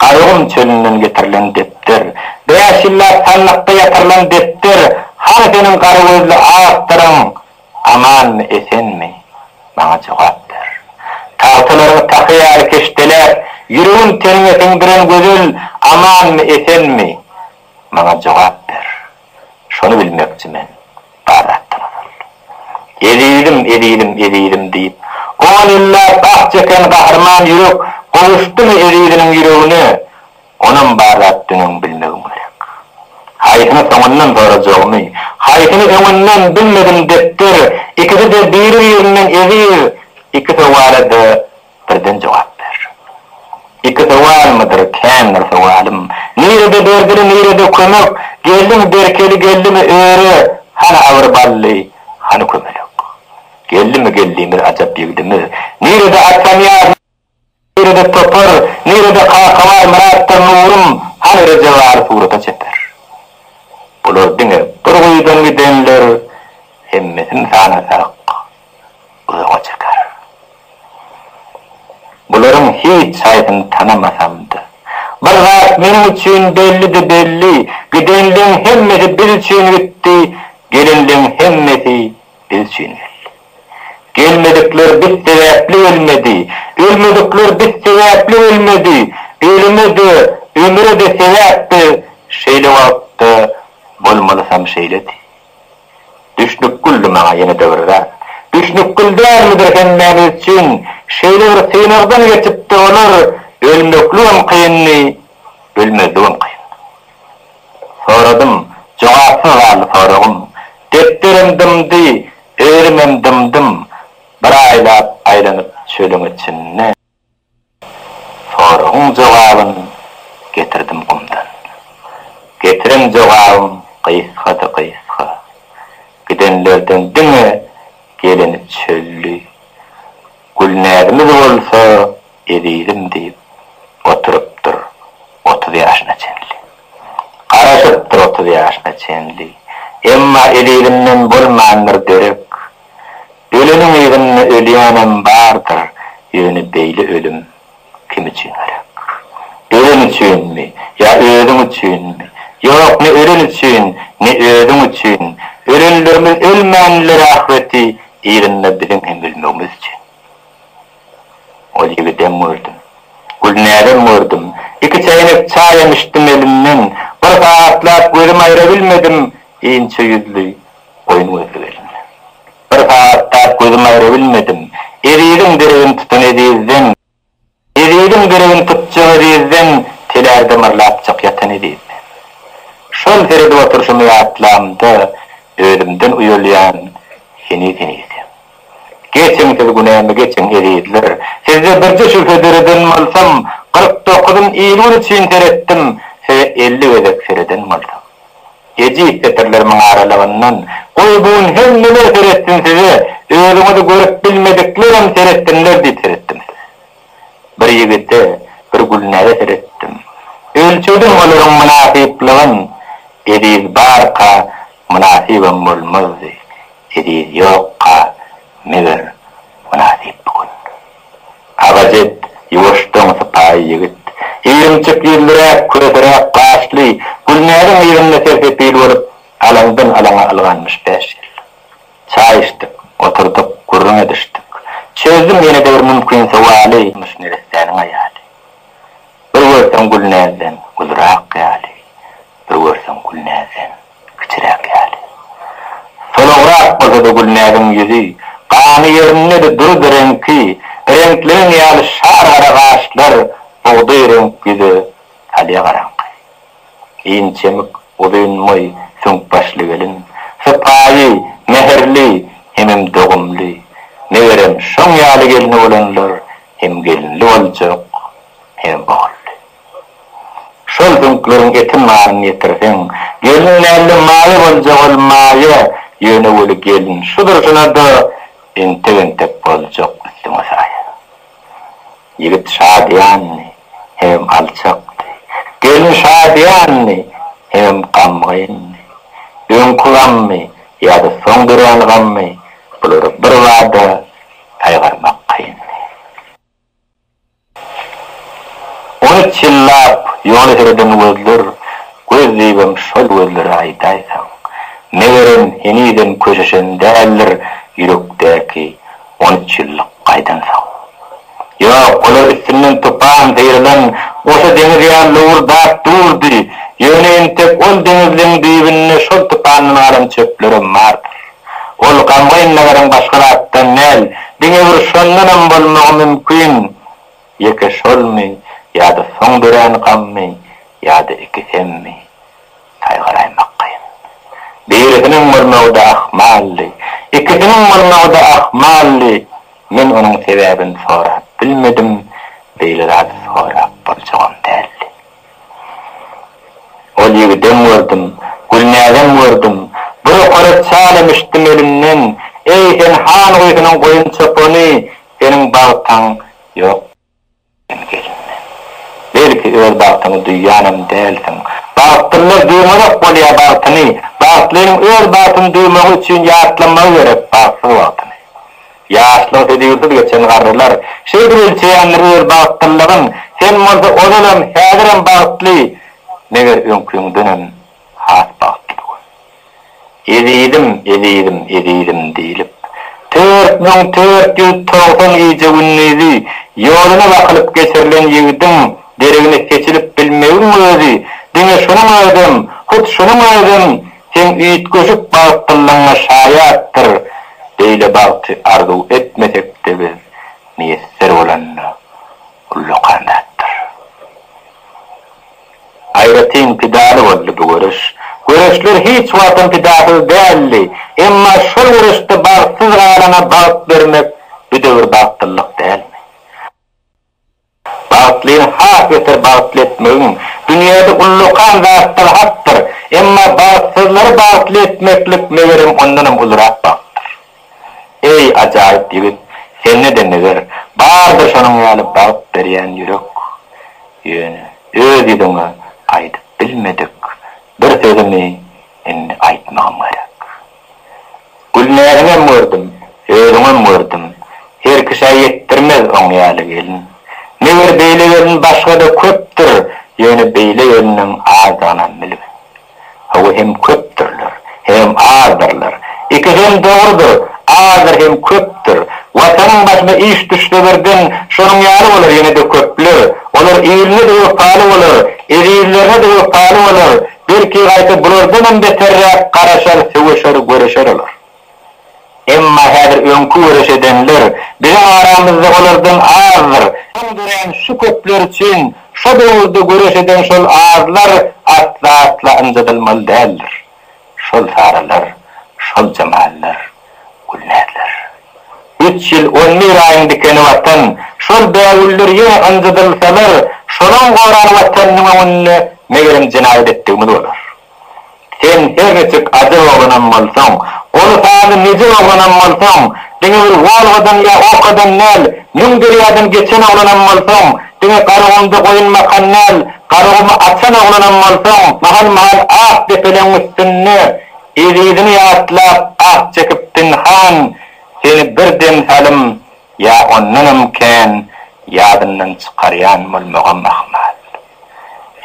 Garagum çölünden getirilen depder. Bäş ýyllap sandykda ýatyrylan depder, Hany seniň gara gözli awtoryň, amanmy, esenmi? Maňa jogap ber. Tagtalaryňy tahy ýaly keşdeläp, Ýüregim teniňe siňdiren gözel, amanmy, esenmi? Maňa jogap ber. Şony bilmekçi men, bar zatdan ozal. Ezizim, ezizim, ezizim diýip, on ýyllap ah çeken gahryman ýürek gowuşdymy eziziniň ýüregine, onam bar zatdan öň bilmegim gerek. Haýsyny soňundan sorajagymy, haýsyny öňünden bilmedim depder, ikisi-de biri-birinden eziz, iki sowala-da Birden jogap ber. Iki sowalmydyr, kändir sowalym. Nirede berdili, nirede kömek? Gelin berkeli geldimi öre? Hany agyr bally, hany kömelek? Geldimi geldimiz ajap ýigdimiz? Nirede Atanyýaz, nirede topar? Nirede Kakabar, Myratdyr Nurym? Hany Rejebaly surata çeper? Bular diňe bir guýudan gidenler, hemmesini sanasak, Uzaga çeker. Bularyň hiç haýsyny tanamasam-da, bir zat meniň üçin bellidi belli, gidenleň hemmesi biz üçin gitdi, gelenleň hemmesi biz üçin geldi. Gelmedikler biz sebäpli gelmedi, ölmedikler biz sebäpli ölmedi, ölüme-de, ömüre-de sebäp biz şeýle wagtda bolmalysam şeýledi. Düşnük güldi maňa ýene-de bir zat. Düşnük gül dälmidir hemmämiz üçin. Şeýle bir synagdan geçipdi olar. Ölmekligem kyndy, ölmezligem kyndy. Soradym, jogapsyz galdy soragym. Depderim dymdy, özümem dymdym. Bir aýlap aýlanyp çölüň içinde. Soragyň jogabyn getirdim gumdan. Getiren jogabym gysgady gysga. Gidenlerden diňe geleni çölli. Gülnäzimiz bolsa ezizim diýip oturypdyr otuz ýaşyna çenli. Garaşypdyr otuz ýaşyna çenli. Emma ezizinden bolmandyr derek Öleniň yzynda ölýänem bardyr, ýöne beýle ölüm kim üçin gerek? Ölen üçinmi? Ýa özüň üçinmi? Ýok, ne ölen üçin, ne özüň üçin. Ölenlerimiz ölmänlere ahyreti yzynda biziň hem ölmegimiz üçin. Ol ýigidem gördüm. Gülnäzem gördüm. Iki çäýnek çaýam içdim elinden. Bir sagatlap gözüm aýrabilmedim inçe ýüzli, Goýun gözli gelin. Bir sagatdap gözüm aýra bilmedim. Eziziň deregini tutan ezizden, Eziziň deregini tutjak ezizden, Telärde myrlapjak ýatan ezizden. Şol seredip oturşymy ýatlamda, Özümden uýalýan heniz-henizem. Geçiň siz günämi geçiň, ezizler. Sizde birje şübhe döreden bolsam, Kyrk dokuzyn il-gün üçin seretdim, Size elli gezek sereden bolsam. Ejiz setirlerimiň aralygyndan, Goý, bu gün hemmeler seretsin size, özüňizi görüp bilmediklerem seretsinler diýip seretdim size. Bir ýigide, bir Gülnäze seretdim. Ölçedim olaryň mynasyplygyn, Eziz barka, mynasybam bolmazdy. Eziz ýokka, meger, mynasyp bu gün. Agajet, ýuwaşjaň, sypaýy ýigit. Irimçik ýüzlüräk, köseräk gaşly, Gülnäziň yzynda sersepil bolup, alaňdan-alaňa ylganmyş bäş ýyl. Çaý içdik, oturdyk, gürrüň edişdik. Çözdüm ýene-de bir mümkin sowaly. Durmuş neressäniň aýaly? Bir görseň Gülnäzden, uzrak ýaly, Bir görseň Gülnäzden. Kiciräk ýaly. Solagrak bolsa-da Gülnäziň ýüzi, gany ýerindedi, durdy, reňki, reňkleň ýaly şar gara gaşlar, bugdaý reňk ýüze, salýa garaňky. Inçemik, uzyn boý, süňk başly gelin. Sypaýy, mähirli, hemem dogumly. Megerem, şoň ýaly gelni bolanlar hem gelinli boljak, hemem ogully. Şol düňkleriň eti malyny ýetirseň, gelniň näme maýa boljak ol maýa, ýöne weli gelin şu durşuna-da entek-entek boljak üstüňe saýa. Ýigit şadyýandy hemem alçakdy, gelin şadyýandy hemem gamgyndy. Öňki gammy ýa-da soň dörän gammy, bulary birbada saýgarmak kyndy. Ony çyllap ýola sereden gözler göz diýibem şol gözleri aýdaýsaň. Megerem, henizem köşeşen däldir ýürekdäki on üç ýyllyk gaýdansoň. Ýok, olar üstünden tupan syrylan goşa deňiz ýaly lowurdap durdy, ýöne entek ol deňizleň düýbünde şol tupandan galan çöplerem bardyr. Ol gamgyn nägeriň başga zatdan däl, diňe bir şondanam bolmagy mümkin, ýeke şolmy ýa-da soň dörän gammy ýa-da ikisemi, saýgaraýmak kyn. Birisiniň bolmagy-da ahmaldy, ikisiniň bolmagy-da ahmaldy, men onuň sebäbini sorap bilmedim, beýle zady sorap boljagam däldi. Ol ýigidem gördüm, Gülnäzem gördüm, Bir okara çaýam içdim elinden, Eý, sen han guýysynyň goýun çopany, Seniň bagtaň ýok diýen gelinden. Belki, öz bagtyňy duýýanam dälsiň. Bagtlylar duýmazok bolýa bagtyny, Bagtlynyň öz bagtyny duýmagy üçin ýatlamagy gerek bagtsyz wagtyny. Ýaşlyk hödürsiz geçen garrylar, Şeýdip ölçeýändir öz bagtlylygyň, Sen bolsa ozalam, häzirem bagtly, Meger öňküňdenem has bagtly bu gün. Ezizim, ezizim, ezizim diýlip, Tört müň tört ýüz togsan gije-gündizi Ýoluna bakylyp geçirilen ýigidiň Deregine seçilip bilmegiň özi, Diňe şunuň özem, hut şunuň özem, Seň üýtgeşik bagtlylygyňa şaýatdyr, beýle bagty arzuw etmesek-de biz, miýesser bolanda ullakan zatdyr. Aýratyn pidaly boldy bu göreş. Göreşler hiç wagtam pidasyz däldi, emma şol göreşde bagtsyz galana bagt bermek bu döwür bagtlylyk dälmi? Bagtlyny has beter bagtly etmegiň, dünýäde ullakan zatlar hakdyr, emma bagtsyzlary bagtly etmeklik, megerem, ondanam ulurak bagtdyr. Eý, ajaýyp ýigit, sende-de, meger, bardyr şonuň ýaly bagt berýän ýürek. Ýöne öz ýüzüňe aýdyp bilmedik bir sözümi indi aýtmagym gerek. Gülnäziňem gördüm, özüňem gördüm, herkişä ýetdirmez oň ýaly gelin. Meger beýle gelin başga-da köpdür, ýöne beýle geliniň azdygynam bilgin. Hawa hem köpdürler, hem azdyrlar. Ikisem dogrudyr, azdyr hem köpdür. Watanyň başyna iş düşse birden, şonuň ýaly bolar ýene-de köpler. Olar iline-de wepaly bolar, ezizlerine-de wepaly bolar, Belki gaýta bulardanam beterräk garaşar, söweşer, göreşer olar. Emma häzir öňki göreş edenler biziň aramyzda olardan azdyr. Soň dörän şu köpler üçin şo döwürde göreş eden şol azlar asla-asla ynjadylmaly däldir. Şol sarylar, şol jamallar. Gülmezler. Üç ýyl on bir aýyň dikeni Watan, şol bägüller ýene ynjydylsalar, şolaň goran Watanynyň öňünde, megerem, jenaýat etdigimiz bolar. Sen her niçik ajar oglanam bolsaň, goly sazly nejir oglanam bolsaň, diňe bir Wolgadan ýa Okadan däl, müň derýadan geçen oglanam bolsaň, diňe Garagumda goýun bakan däl, Garagumy açan oglanam bolsaň, mahal-mahal ak depeleň üstünde, Ezizini ýatlap ah çekip pinhan Seni bir dem salym ýa ondanam kän Ýadyndan çykarýan bolmagam ahmal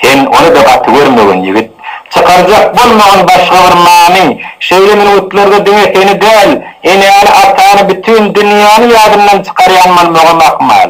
Sen ony-da gaty görmegin ýigit Çykarjak bolmagyn başga bir many Şeýle minutlarda diňe seni däl Enäni-atany bütin dünýäni Ýadyndan çykarýan bolmagam ahmal